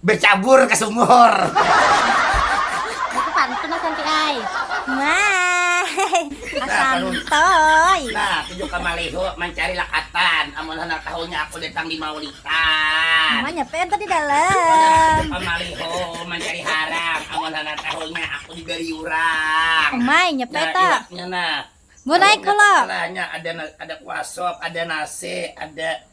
Becabur ka sumur. Itu pantun lah santi ai. Maah santoy. Nah tuju ka malihu mancari lakatan amun handak tahunya aku datang di maulitan. Manya PM tadi dalam. Nah tuju ka malihu mancari harang amun handak tahunya aku di gariurang. Umai nya pe ta. Nah iwaknya nah. Mun ai kalo. Nah nya ada ada kuasop ada nasi ada.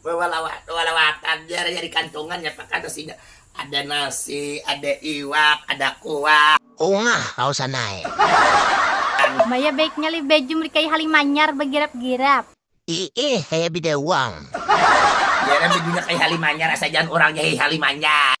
Balawat-lawatan jar nya di kantongan nya pa kada sida ada nasi, ada iwak, ada kuah. Ungah kawa sanai. Maya baik nya lih baju melikai hali manyar bagirap-girap. Iih kaya bidawang. Jar nya bajunya kaya hali manyar asa jaan urangnya hih hali manyar.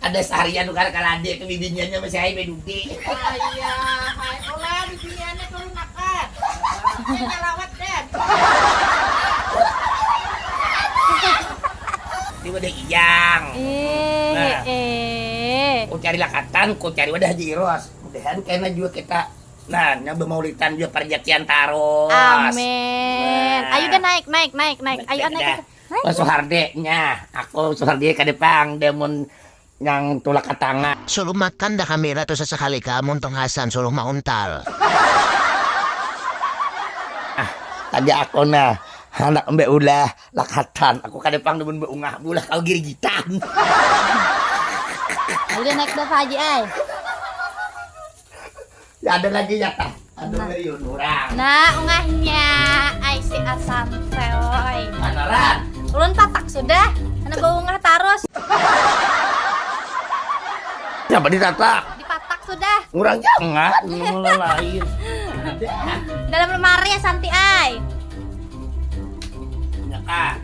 Kada saharian nukar kalade ke bibiniannya masih ai bedudi. Ayahai olah bibiniannya turun makan. Ini nyalawat den. Ini wadah iyang. Nah ku cari lakatan ku cari wadah haji iros mudahan kena jua kita nah nya bemaulitan jua parjatian tarus. Amin. Ayu dah naik naik naik naik ayu ah naik ayu. Oh, Suhardi nya, aku Suhardi kada pang dia mun yang tulak ka tanga. Suruh makan dah kami lah tu sasakali ka amun tong Hasan suruh mauntal. Ah, tadi aku nah handak mbe ulah lakatan, aku kada pang dah mun mbe ungah bulah kau girigitan. Ulih naik dava haji ai. ada lagi ya kak ada nah. lagi orang nah ungahnya ai si asam seoy manaran ulun tatak sudah karena bau ungah tarus siapa ditatak dipatak sudah kurang jangan mulai lain dalam lemari ya santi ai ya kak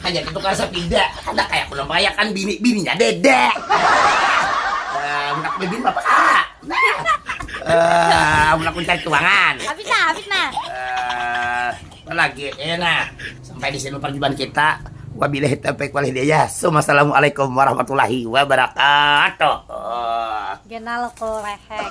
hanya ke tukang sapida kada kaya aku nang merayakan bini bininya beda uh, budak bibin bapak ah uh, budak mencari keuangan habis nah habis nah uh, eh, lagi eh nah sampai di sini perjumpaan kita wabillahi taufiq wal hidayah assalamualaikum warahmatullahi wabarakatuh genal kolehek